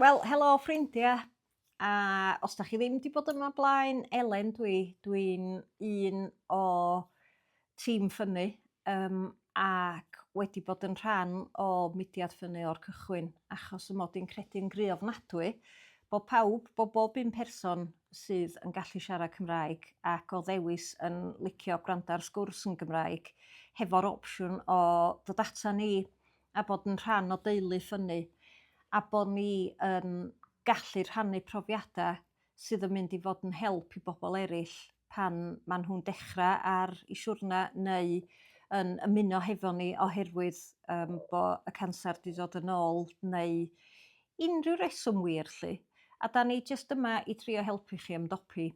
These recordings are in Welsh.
Wel helo ffrindia a os 'dach chi ddim 'di bod yma blaen Elen dw i dwi'n un o tîm ffynnu yym ac wedi bod yn rhan o mudiad ffynnu o'r cychwyn achos 'y mod i'n credu'n gry ofnadwy bo' pawb bo' bob un person sydd yn gallu siarad Cymraeg ac o ddewis yn licio gwrando ar sgwrs yn Gymraeg hefo'r opsiwn o dod ata ni a bod yn rhan o deulu ffynnu a bo' ni yn gallu rhannu profiada sydd yn mynd i fod yn help i bobol eryll pan ma' nhw'n dechra ar 'u siwrna neu yn ymuno hefo ni oherwydd yym bo' y canser 'di dod yn ôl neu unrhyw reswm wir 'lly a 'dan ni jyst yma i drio helpu chi ymdopi.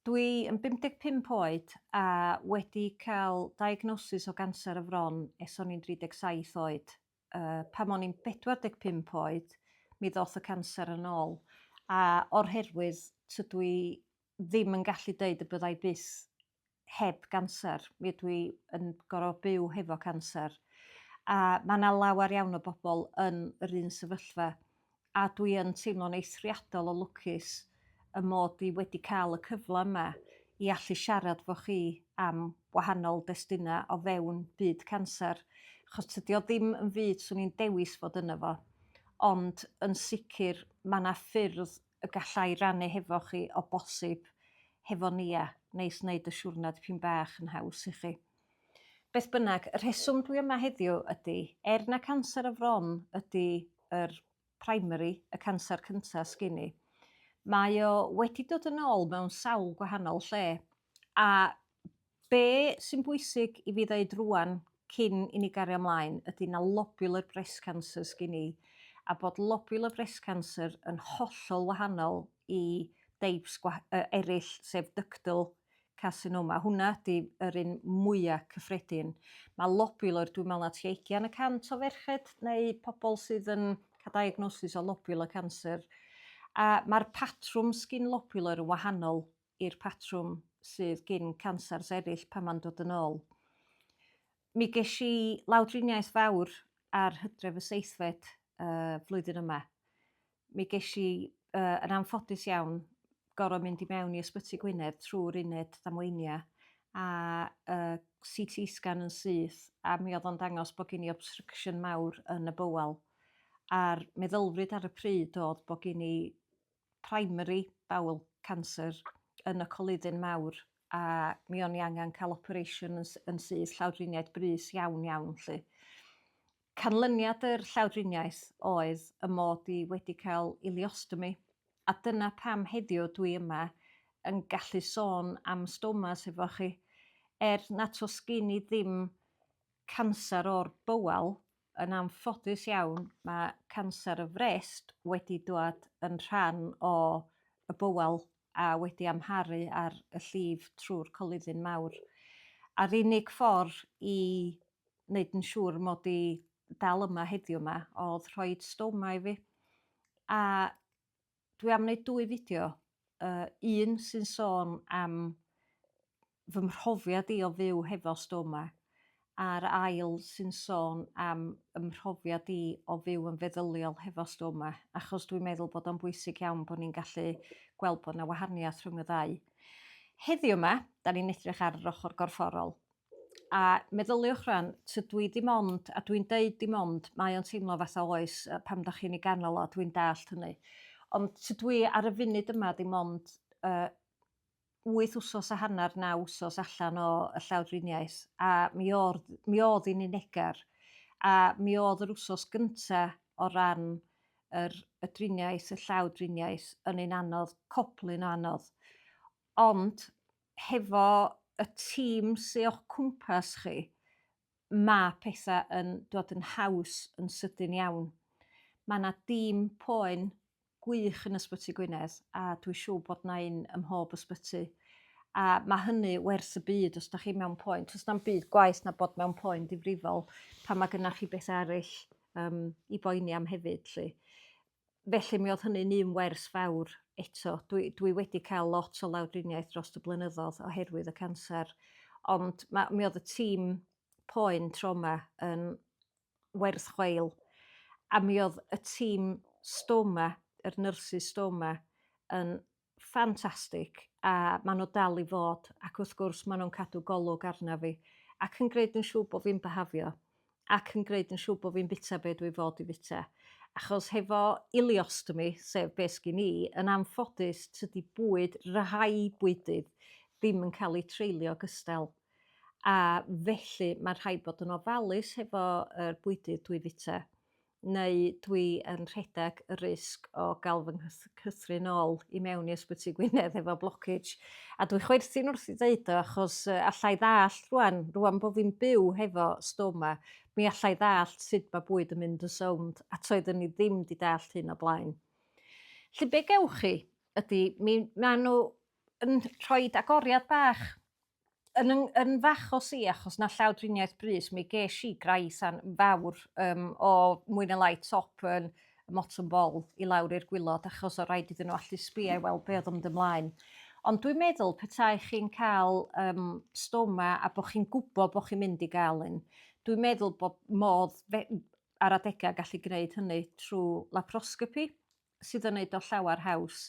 Dwi yn 55 oed a wedi cael diagnosis o ganser y fron es o'n i'n 37 oed. Pan o'n i'n 45 oed mi ddoth y canser yn ôl a o'r herwydd tydw i ddim yn gallu deud y bydda i byth heb ganser, mi ydw i yn gorfod byw hefo canser a ma' 'na lawer iawn o bobl yn yr un sefyllfa. a dwi yn teimlo'n eithriadol o lwcus 'y mod i wedi ca'l y cyfla 'ma i allu siarad 'fo chi am wahanol destunau o fewn byd canser, 'chos tydi o ddim yn fyd 'swn i'n dewis fod yno fo, ond yn sicr ma' 'na ffyrdd y galla i rannu hefo chi o bosib hefo nia, neis neud y siwrna dipyn bach yn haws i chi. Beth bynnag, y rheswm dwi yma heddiw ydy, er na canser y fron ydy yr primary, y canser cyntaf sgyn i, mae o wedi dod yn ôl mewn sawl gwahanol lle. A be sy'n bwysig i fi ddeud rwan cyn i ni gario ymlaen ydy na lobular breast cancer sgyn i, a bod lobular breast cancer yn hollol wahanol i deips uh, eraill, sef ductal carsinoma. Hwnna ydy yr un mwya cyffredin. Mae lobular, dwi'n meddwl na tua ugian y cant o ferched neu pobl sydd yn cael diagnosis o lobular cancer. A mae'r patrwm sgin lobular yn wahanol i'r patrwm sydd gin cancers eraill pan mae'n dod yn ôl. Mi ges i lawdriniaeth fawr ar hydref y seithfed uh, flwyddyn yma. mi gesh i yy yn anffodus iawn gor'o' mynd i mewn i Ysbyty Gwynedd trw'r uned ddamweinia' a yy See Tee scan yn syth a mi odd o'n dangos bo' gin i obstruction mawr yn y bowel a'r meddylfryd ar y pryd odd bo' gin i primary bowel cancer yn y coluddyn mawr a mi o'n i angan ca'l operation yn s- yn syth llawdriniaeth brys iawn iawn 'lly. Canlyniad yr llawdriniaeth oedd y mod i wedi cael ileostomi, a dyna pam heddiw dwi yma yn gallu sôn am stomas hefo chi. Er nad oes gen i ddim canser o'r bowel, yn anffodus iawn mae canser y frest wedi dwad yn rhan o y bowel a wedi amharu ar y llif trwy'r coluddyn mawr. A'r unig ffordd i neud yn siŵr mod i dal yma heddiw 'ma odd rhoid stoma i fi. A dwi am neud dwy fideo yy un sy'n sôn am fy mhrofiad i o fyw hefo stoma a'r ail sy'n sôn am 'y mhrofiad i o fyw yn feddyliol hefo stoma achos dwi'n meddwl bod o'n bwysig iawn bo' ni'n gallu gweld bo' 'na wahaniath rhwng y ddau. Heddiw 'ma 'dan ni'n edrych ar yr ochor gorfforol A meddyliwch rwan, tydw i dim ond, a dwi'n deud dim ond, mae o'n teimlo fatha oes yy pan dach chi'n ei ganol o, dwi'n dallt hynny. Ond tydw i ar y funud yma dim ond yy wyth wsos a hanner, naw wsos allan o y llawdriniaeth a mi o'r mi o'dd i'n unegar a mi o'dd yr wsos gynta' o ran yr y driniaeth, y llawdriniaeth yn un anodd, coblyn o anodd. Ond hefo y tîm sy o'ch cwmpas chi, ma' petha yn dod yn haws yn sydyn iawn. Ma' 'na dîm poen gwych yn Ysbyty Gwynedd a dwi siŵr bod 'na un ym mhob ysbyty a ma' hynny werth y byd os 'dach chi mewn poen. Do's na'm byd gwaeth na bod mewn poen difrifol pan ma' gynnach chi betha eryll yym i boeni am hefyd 'lly. Felly mi oedd hynny'n un wers fawr eto. Dwi, dwi wedi cael lot o lawdriniaeth dros y blynyddoedd oherwydd y canser, ond ma, mi oedd y tîm poen troma yn werth chweil, a mi oedd y tîm stoma, yr nyrsys stoma, yn ffantastig a ma' nhw dal i fod ac wrth gwrs ma' nhw'n cadw golwg arnaf fi ac yn gwneud yn siŵr bod fi'n byhafio ac yn gwneud yn siŵr bod fi'n bwyta be dwi fod i fwyta achos hefo ileostomy sef be sgin i yn anffodus tydi bwyd rhai bwydydd ddim yn cael eu treulio gystal a felly ma' rhaid bod yn ofalus hefo yr bwydydd dwi fwyta. neu dwi yn rhedeg y risg o ga'l fy nghyth- cythrun ôl i mewn i Ysbyty Gwynedd efo blockage. A dwi chwerthin wrth 'i ddeud o achos yy alla i ddallt rŵan rŵan bo' fi'n byw hefo stoma mi alla i ddallt sud ma' bwyd yn mynd yn sownd a toeddwn i ddim 'di dallt hyn o blaen. 'Lly be' gewch chi ydi mi ma' n'w yn rhoid agoriad bach yn yn yn fach o si achos 'na llaw driniaeth brys mi gesh i grais an- fawr yym o mwy ne' lai top yn y motwm bol i lawr i'r gwilod achos o' raid iddyn n'w allu sbïo i weld be' odd yn mynd ymlaen. Ond dwi'n meddwl petai chi'n ca'l yym stoma a bo' chi'n gwbo bo' chi'n mynd i ga'l un dwi'n meddwl bod modd fe- m- ar adega gallu gneud hynny trw laproscopi. sydd yn neud o llawer haws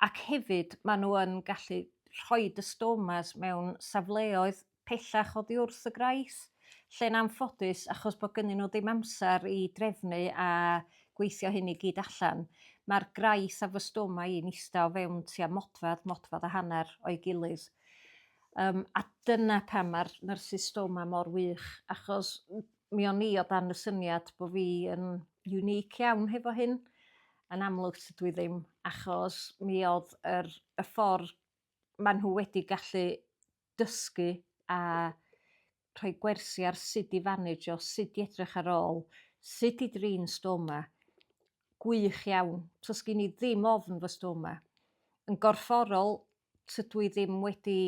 ac hefyd ma' nhw yn gallu rhoid y stomas mewn safleoedd pellach oddi wrth y graeth lle'n anffodus achos bo' gynnyn nhw ddim amsar i drefnu a gweithio hyn i gyd allan ma'r graeth a fy stoma i'n ista o fewn tua modfedd modfedd a hanner o'i gilydd. Yym a dyna pam ma'r nyrsys stoma mor wych achos mi o'n i o dan y syniad bo' fi yn unique iawn hefo hyn. Yn amlwg tydw i ddim achos mi odd yr y ffor ma' nhw wedi gallu dysgu a rhoi gwersi ar sud i fanegio sud i edrych ar ôl sud i drin stoma gwych iawn. So sgin i ddim ofn fy stoma. Yn gorfforol tydw i ddim wedi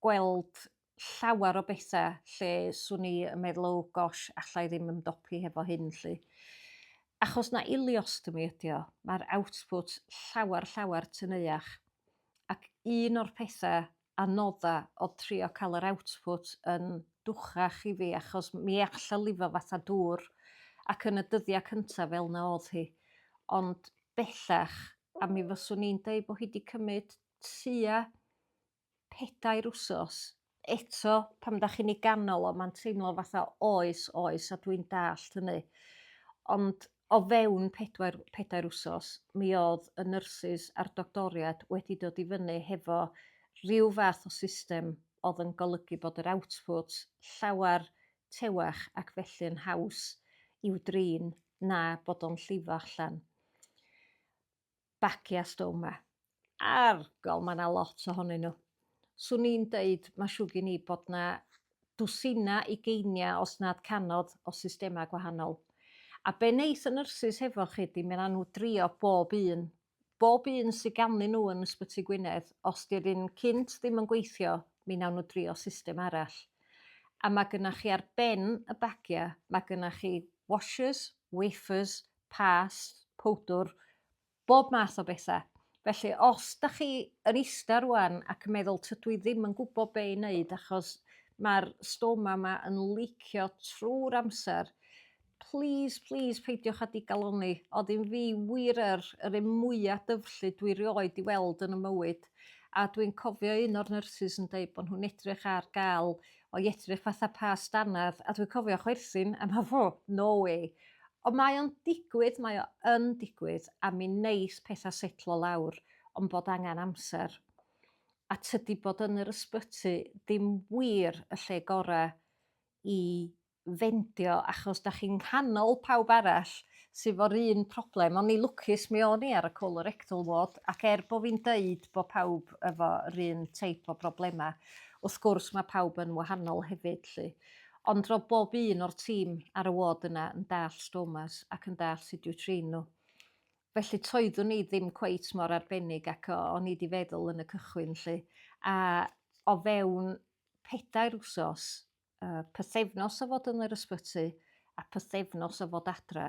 gweld llawer o bethe lle swn i yn meddwl oh gosh alla i ddim ymdopi hefo hyn 'lly. Achos na iliostomy ydi o. Mae'r output llawer llawer tŷ neuach. Ac un o'r pethe anodda o trio cael yr output yn dwchach i fi achos mi alla lifo fatha dŵr ac yn y dyddia' cynta' fel 'na odd hi. Ond bellach a mi fyswn i'n deud bo' hi 'di cymyd tua pedair wsos eto pan dach chi'n 'i ganol o ma'n teimlo fatha oes oes a dwi'n dallt hynny ond o fewn pedwar pedair wsos mi odd y nyrsys a'r doctoried wedi dod i fyny hefo rhyw fath o system odd yn golygu bod yr output llawer tewach ac felly yn haws i'w drin na bod o'n llifo allan. bacia stoma. Argol, mae yna lot ohonyn nhw. Swn i'n deud, mae siw gen i bod yna dwsina ugeiniau os nad canodd o systemau gwahanol. A be wneith y nyrsys hefo chi ydy mi wnawn nhw drio bob un. Bob un sydd ganddyn nhw yn Ysbyty Gwynedd, os 'di'r un cynt ddim yn gweithio, mi wnawn nhw drio system arall. A mae gennych chi ar ben y bagiau, mae gennych chi washers, wafers, pâs, powdwr, bob math o betha. Felly os dach chi yn ista rŵan ac yn meddwl tydw i ddim yn gwybod be' i wneud achos mae'r stoma 'ma yn licio trwy'r amser, plîs plîs peidiwch â digalonni. Oedd un fi wir yr yr un mwya' dyfrllyd dwi rioed 'di weld yn 'y mywyd a dwi'n cofio un o'r nyrsys yn deud bod nhw'n edrych ar ga'l O'i edrych fatha past dannedd a dwi'n cofio chwerthin a me'wl oh no way. Ond mae o'n digwydd mae o yn digwydd a mi neith petha setlo lawr ond bod angan amser. A tydi bod yn yr ysbyty ddim wir y lle gora i ffeindio achos dach chi'n nghanol pawb arall sy 'fo'r un problem o'n i lwcus mi o'n i ar y colorectal ward ac er bo' fi'n deud bo' pawb efo 'r un teip o broblema wrth gwrs ma' pawb yn wahanol hefyd 'lly. Ond ro'dd bob un o'r tîm ar y ward yna yn dall' stomas ac yn dall' sud i'w trin n'w. Felly toeddwn i ddim cweit mor arbennig ac o- o'n i 'di feddwl yn y cychwyn 'lly a o fewn pedair wsos uh, pythefnos o fod yn yr ysbyty a pythefnos o fod adre,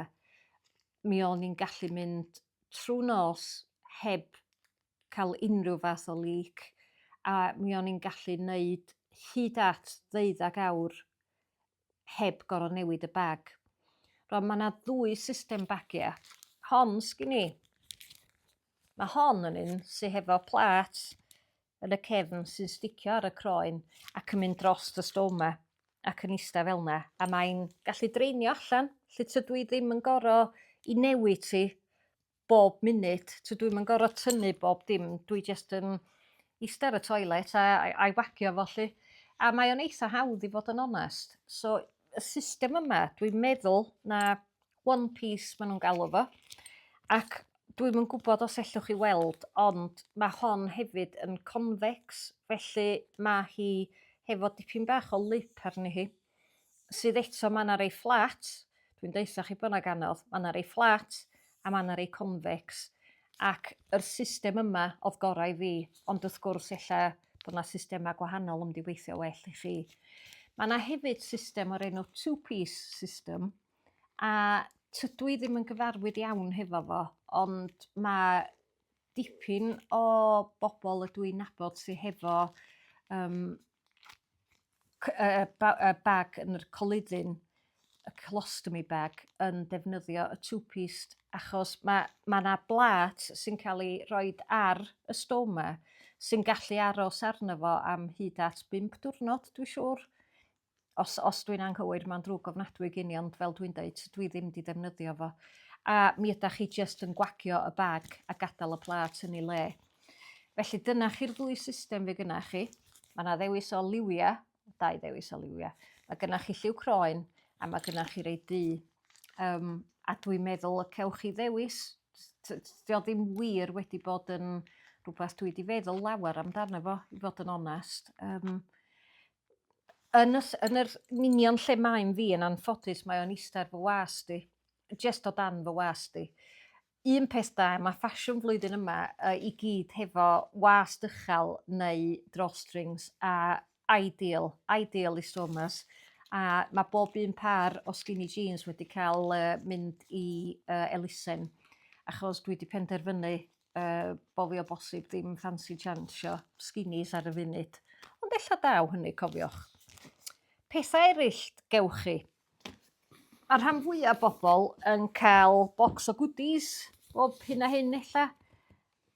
mi o'n i'n gallu mynd trwy nos heb cael unrhyw fath o leak a mi o'n i'n gallu wneud hyd at ddeuddag awr heb gorau newid y bag. Rwan, mae yna ddwy system bagiau. Hon sgyn i. Mae hon yn un sy'n hefo plat yn y cefn sy'n sticio ar y croen ac yn mynd dros y stwm 'ma ac yn ista fel 'na a mae'n gallu draenio allan 'lly tydw i ddim yn goro 'i newid hi bob munud tydw i'm yn goro tynnu bob dim dwi jyst yn ista ar y toilet a a a'i wagio fo 'lly a mae o'n eitha hawdd i fod yn onest so y system yma dwi'n meddwl na One Piece ma' nw'n galw fo ac dwi'm yn gwbod os ellwch chi weld ond ma' hon hefyd yn convex felly ma' hi hefo dipyn bach o lip arni hi sydd eto ma' 'na rei fflat dwi'n deutha chi bo' 'na gannodd ma' 'na rei fflat a ma' 'na rei convex ac yr system yma odd gora' i fi ond wrth gwrs ella bo' 'na systema gwahanol yn mynd i weithio well i chi. Ma' 'na hefyd system o'r enw two piece system a tydw i ddim yn gyfarwydd iawn hefo fo ond ma' dipyn o bobol ydw i'n nabod sy hefo yym c- yy yy ba- yy bag yn yr coluddyn y colostomy bag yn defnyddio y two pieced achos ma' ma' 'na blât sy'n ca'l 'i roid ar y stoma sy'n gallu aros arno fo am hyd at bump diwrnod dwi siŵr. os os dwi'n anghywir ma'n ddrwg ofnadwy gin i ond fel dwi'n deud dwi ddim 'di defnyddio fo. A mi ydach chi jyst yn gwagio y bag a gadael y plât yn ei le. Felly dyna chi'r ddwy system fe gynnach chi. Mae yna ddewis o liwia, dau ddewis o liwia. Mae gynnach chi lliw croen a mae gynnach chi rei du. Um, a dwi'n meddwl y cewch chi ddewis. Dio ddim wir wedi bod yn rhywbeth dwi wedi feddwl lawer amdano fo, i fod yn onest. Um, yn y ll- yn yr yn union lle mae'n fi yn anffodus mae o'n ista ar fy wast i. Jest o dan fy wast i. Un peth da ma' ffasiwn flwyddyn yma yy i gyd hefo wast uchel neu drawstrings a ideal ideal i sumers a ma' bob un pâr o skinny jeans wedi ca'l yy mynd i yy elusen achos dwi 'di penderfynu yy bo' fi o bosib ddim ffansi jansio sginis ar y funud. Ond ella daw hynny cofiwch. Pethau eraill gewch chi. Mae rhan fwyaf bobl yn cael bocs o goodies bob hyn a hyn ella.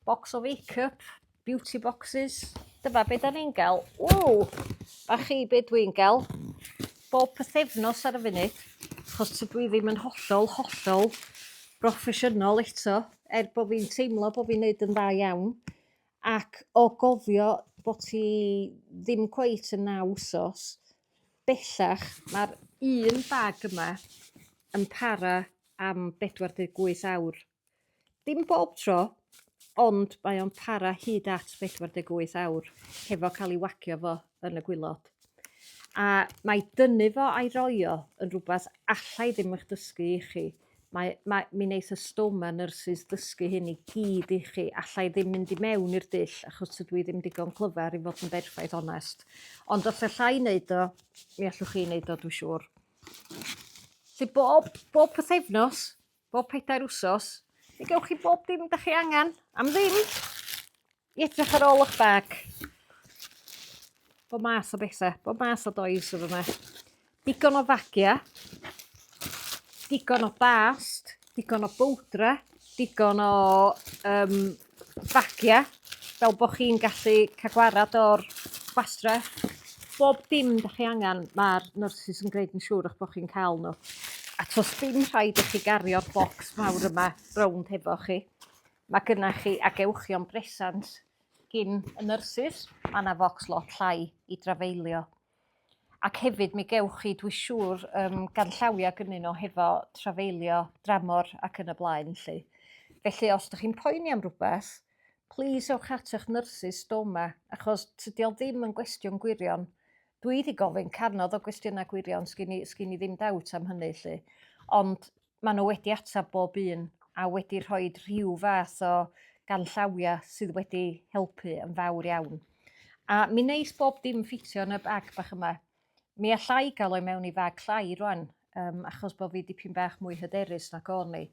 Bocs o make-up, beauty boxes. Dyma be da ni'n gael. Ww! A chi be dwi'n gael? Bob pythefnos ar y funud. Chos tydw i ddim yn hollol, hollol broffesiynol eto. er bo' fi'n teimlo bo' fi'n neud yn dda iawn ac o gofio bo' ti ddim cweit yn naw wsos bellach ma'r un bag yma yn para am bedwar deg wyth awr. Dim bob tro ond mae o'n para hyd at bedwar deg wyth awr hefo ca'l 'i wagio fo yn y gwilod. A mae dynnu fo a'i roi o yn rwbath alla i ddim 'ych dysgu i chi. Mae mae mi neith y stwm a nyrsys ddysgu hyn i gyd i chi. Alla i ddim mynd i mewn i'r dull achos tydw i ddim digon clyfar i fod yn berffaith onest. Ond os alla i neud o, mi allwch chi neud o dwi siŵr. Felly bob, bob pythefnos, bob pedair wsos, fe gewch chi bob dim da chi angen am ddim. I edrych ar ôl o'ch bag. Bo mas o bethe, bo mas o does oedd yma. Digon o fagia, digon o bast, digon o bowdra, digon o um, fagia, fel bod chi'n gallu cael gwarad o'r bastre. Bob dim da chi angen, mae'r nurses yn gwneud yn siŵr o'ch bod chi'n cael nhw. A tos dim rhaid i chi gario'r bocs mawr yma rownd hefo chi. Mae gynnach chi agewchion bresant gin y nyrsys, mae yna focs lot llai i drafeilio. Ac hefyd mi gewch chi, dwi siŵr, um, ganllawiau gynnyn nhw hefo trafeilio dramor ac yn y blaen lli. Felly os ydych chi'n poeni am rhywbeth, plis ewch at eich nyrsys doma, achos tydi o ddim yn gwestiwn gwirion. Dwi wedi gofyn canodd o gwestiynau gwirion, sgyn i, sgyn i ddim dawt am hynny lli. Ond maen nhw wedi ateb bob un a wedi rhoi rhyw fath o ganllawiau sydd wedi helpu yn fawr iawn. A mi neis bob dim ffitio yn y bag bach yma. Mi alla i gael o'i mewn i fag llai rwan, um, achos bod fi dipyn bach mwy hyderus na o'n i.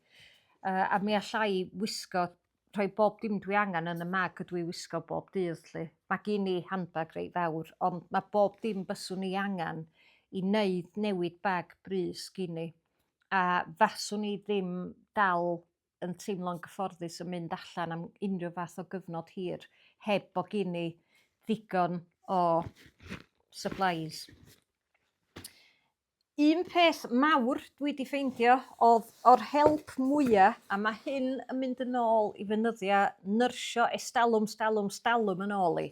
Uh, a mi alla i wisgo rhoi bob dim dwi angan yn y mag ydw i wisgo bob dydd 'lly. Ma' gin i handbag reit fawr ond ma' bob dim byswn i angan i neud newid bag brys gin i. A faswn i ddim dal yn teimlo'n gyfforddus yn mynd allan am unryw fath o gyfnod hir heb bo' gin i ddigon o supplies. Un peth mawr dwi 'di ffeindio odd o'r help mwya a ma' hyn yn mynd yn ôl i fy nyddia nyrsio estalwm stalwm stalwm yn ôl i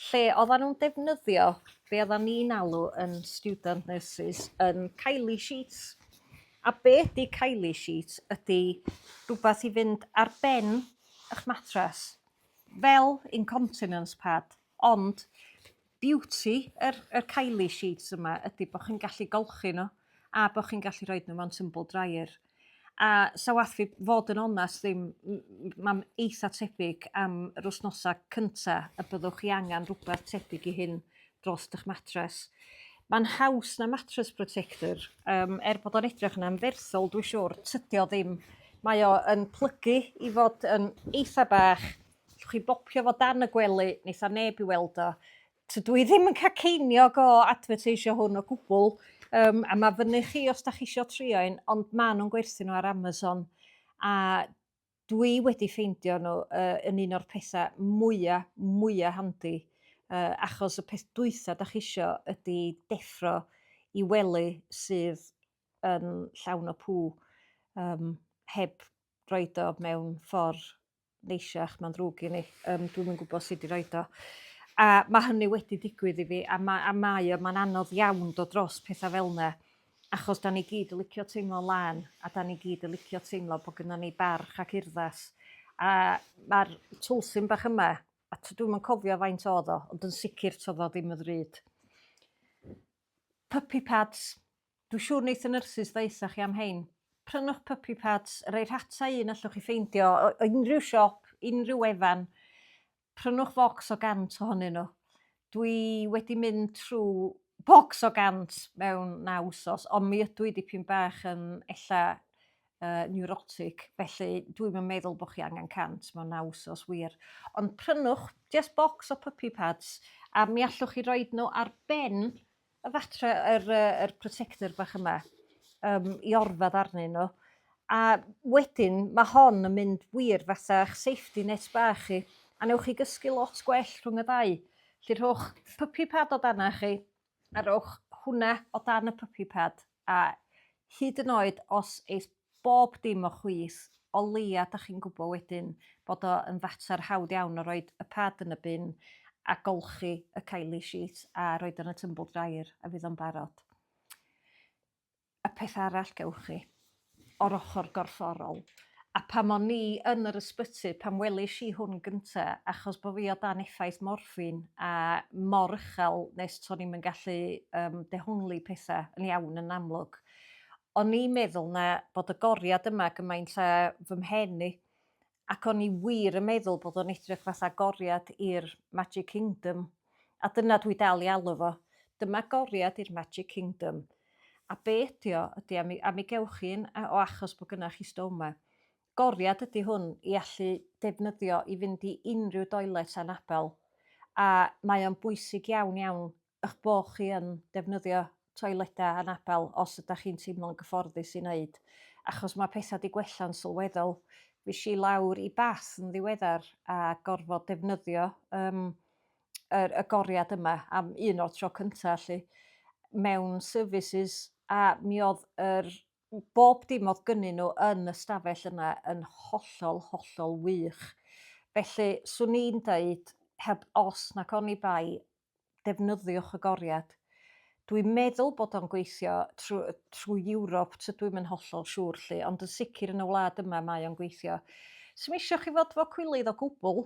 lle oddan nw'n defnyddio be' oddan ni'n alw yn student nurses yn Kylie sheets a be' 'di Kylie sheets ydi rwbath i fynd ar ben 'ych matras fel incontinence pad ond Beauty yr yr Kylie sheets yma ydi bo' chi'n gallu golchi nhw a bo' chi'n gallu rhoid nhw mewn tumble dryer a 'sa wath fi fod yn onast ddim m- m- ma'n eitha tebyg am yr wsnosa cynta y byddwch chi angan rwbath tebyg i hyn drost 'ych matres. Ma'n haws na matres protector yym er bod o'n edrych yn anferthol dwi siwr tydi o ddim mae o yn plygu i fod yn eitha bach Allwch chi bopio fo dan y gwely, neith a neb i weld o. Tydw i ddim yn cael ceiniog o adfyrteisio hwn o gwbl, um, a mae fyny chi os da chi isio trio un, ond maen nhw'n gwerthu nhw ar Amazon. A dwi wedi ffeindio nhw uh, yn un o'r pethau mwyaf, mwyaf handi, uh, achos y peth dwytha da chi isio ydy deffro i wely sydd yn llawn o pŵ, um, heb roed o mewn ffordd neisiach, mae'n ddrwg gen i, yym dwi'm yn gwybod sut i roid o. A mae hynny wedi digwydd i fi a ma' a mae o mae'n anodd iawn dod dros pethau fel 'na achos 'dan ni gyd yn licio teimlo'n lân a 'dan ni gyd yn licio teimlo bod gynnon ni barch ac urddas a ma'r twlsyn bach yma a t- dwi'm yn cofio faint o'dd o ond yn sicr t'odd o ddim yn ddrud. Puppy pads. Dw siwr neith y nyrsys ddaetha chi am hein. Prynwch puppy pads, rei rhata un allwch chi ffeindio o unrhyw siop, unrhyw wefan. Prynwch focs o 100 ohonyn nhw. Dw i wedi mynd trw bocs o 100 mewn naw wsos, ond mi ydw i dipyn bach yn ella uh, neurotic, felly dwi'm yn meddwl bod chi angen 100 mewn naw wsos wir. Ond prynwch just bocs o puppy pads, a mi allwch chi roed nhw ar ben y fatre yr yy yr protector bach yma yym i orfadd arnyn n'w a wedyn ma' hon yn mynd wir fatha'r safety net bach chi a newch chi gysgu lot gwell rhwng y ddau. 'Lly rhowch puppy pad o dana chi a rowch hwnna o dan y puppy pad. A hyd yn oed os eith bob dim o chwith, o leia' 'dach chi'n gwbo wedyn bod o yn fater hawdd iawn o roid y pad yn y bin a golchi y Kylie sheet a roid o yn y tumble dryer a fydd o'n barod. Y peth arall gewch chi o'r ochr gorfforol, a pam o'n i yn yr ysbyty pan welish i hwn gynta, achos bo fi o dan effaith morffin a mor uchel nes to'n i'm yn gallu yym dehongli petha yn iawn yn amlwg. O'n i'n meddwl na bod y goriad yma gymaint a fy mhen i, ac o'n i wir yn meddwl bod o'n edrych fatha agoriad i'r Magic Kingdom, a dyna dwi dal i alw fo, dyma agoriad i'r Magic Kingdom. A be ydi o, ydi, a mi, a mi gewch chi un, o achos bod gynnach chi stoma. Goriad ydi hwn i allu defnyddio i fynd i unrhyw doilet anabel, a mae o'n bwysig iawn iawn eich bod chi yn defnyddio toiledau anabl os ydych chi'n teimlo'n gyfforddus i wneud, achos mae pethau 'di gwella'n sylweddol. Fues i lawr i Bath yn ddiweddar a gorfod defnyddio um, yr, y goriad yma am un o'r tro cyntaf allu mewn services a mi oedd yr bob dim oedd gynnyn nhw yn y stafell yna yn hollol, hollol wych. Felly, swn i'n dweud, heb os nac oni bai, defnyddiwch y goriad. Dwi'n meddwl bod o'n gweithio trwy, trwy Ewrop, tydw i'm yn hollol siŵr lly, ond yn sicr yn y wlad yma mae o'n gweithio. Sym eisiau chi fod fo cwilydd o gwbl,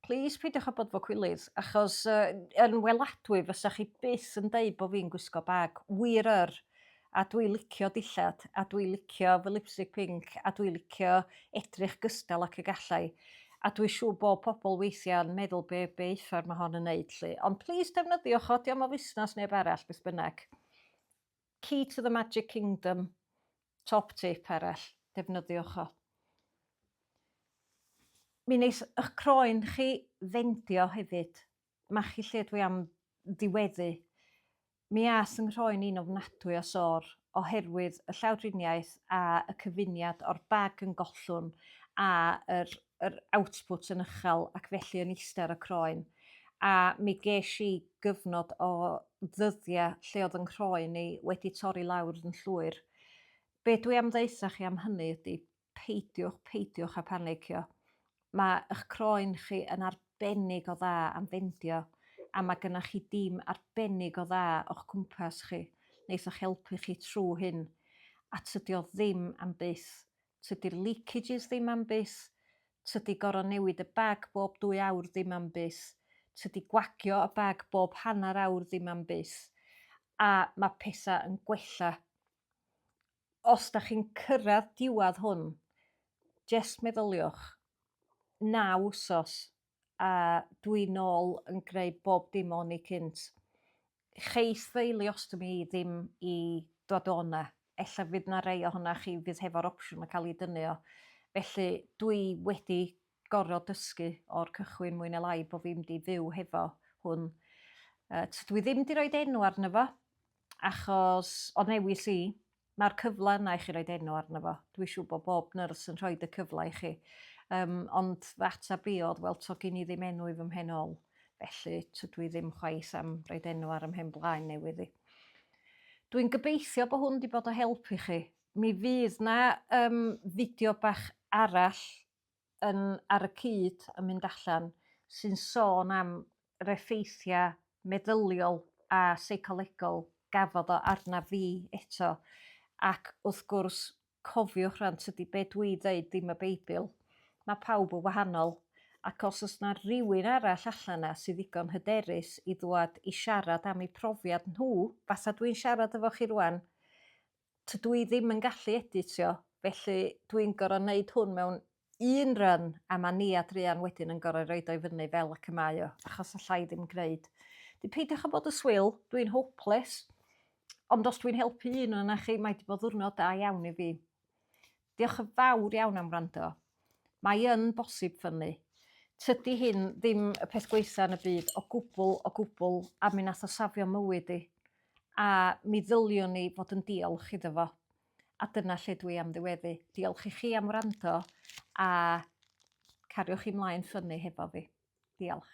plis peidiwch â bod fo cwilydd, achos uh, yn weladwy fysa chi byth yn deud bod fi'n gwisgo bag. Wir yr, a dwi licio dillad a dwi licio fy lipstick pinc a dwi licio edrych gystal ac y gallai a dwi siŵr bo pobl weithia'n meddwl be be uffar ma hon yn neud lly ond plîs defnyddiwch o diom o fusnas neb arall beth bynnag. Key to the magic kingdom top tip arall defnyddiwch o. Mi neith ych croen chi fendio hefyd. machu lle dwi am ddiweddu. Mi aeth 'y nghroen i'n ofnadwy o sôr oherwydd y llawdriniaeth a y cyfuniad o'r bag yn gollwng a yr yr output yn ychal ac felly yn iste ar y croen a mi gesh i gyfnod o ddyddia lle odd 'y nghroen i wedi torri lawr yn llwyr. Be' dwi am ddeutha chi am hynny ydi peidiwch, peidiwch â phanicio. Mae eich croen chi yn arbennig o dda am fendio a mae gennych chi dîm arbennig o dda o'ch cwmpas chi wneith eich helpu chi trwy hyn. A tydi o ddim am byth. Tydi'r leakages ddim am byth. Tydi gorau newid y bag bob dwy awr ddim am byth. Tydi gwagio y bag bob hanner awr ddim am byth. A mae pethau yn gwella os dach chi'n cyrradd diwadd hwn jest meddyliwch, naw wsos a dwi nôl yn greu bob dim o'n i cynt. Cheith fy ileostomi i ddim i ddod o 'na, ella fydd 'na rei ohona chi fydd hefo'r opsiwn o ca'l 'i dynnu o. Felly dwi wedi gorod dysgu o'r cychwyn mwy ne lai bo fi'm di fyw hefo hwn yy t- dwi ddim di roid enw arno fo achos o newis i ma'r cyfle yna i chi roid enw arno fo dwi siŵr bo bob nyrs yn rhoid y cyfle i chi yym ond fy atab i odd wel to gin i ddim enw i fy mhen ol felly tydw i ddim chwaith am roid enw ar ym mhen blaen newydd i. Dwi'n gobeithio bo hwn di bod o help i chi mi fydd na yym fideo bach arall yn ar y cyd yn mynd allan sy'n sôn am yr effeithia' meddyliol a seicolegol gafodd o arnaf fi eto ac wrth gwrs cofiwch rŵan tydi be' dwi ddeud ddim y Beibl. Ma' pawb yn wahanol ac os o's 'na rywun arall allan 'na sy ddigon hyderus i ddwad i siarad am eu profiad nhw fatha dwi'n siarad efo chi rŵan tydw i ddim yn gallu editio felly dwi'n gor'o' neud hwn mewn un run a ma' Nia druan wedyn yn gor'o' roid o i fyny fel ac y mae o achos alla i ddim gneud. Dw peidiwch â bod y swil dwi'n hopeless ond os dwi'n helpu un ona chi mae 'di bod ddiwrnod da iawn i fi. Diolch yn fawr iawn am wrando. Mae yn bosib ffynnu. Tydi hyn ddim y peth gwaetha yn y byd o gwbl o gwbl a mi nath o safio mywyd i. A mi ddyliwn ni fod yn diolch iddo fo. A dyna lle dwi am ddiweddu. Diolch i chi am wrando a cariwch chi mlaen ffynnu hefo fi. Diolch.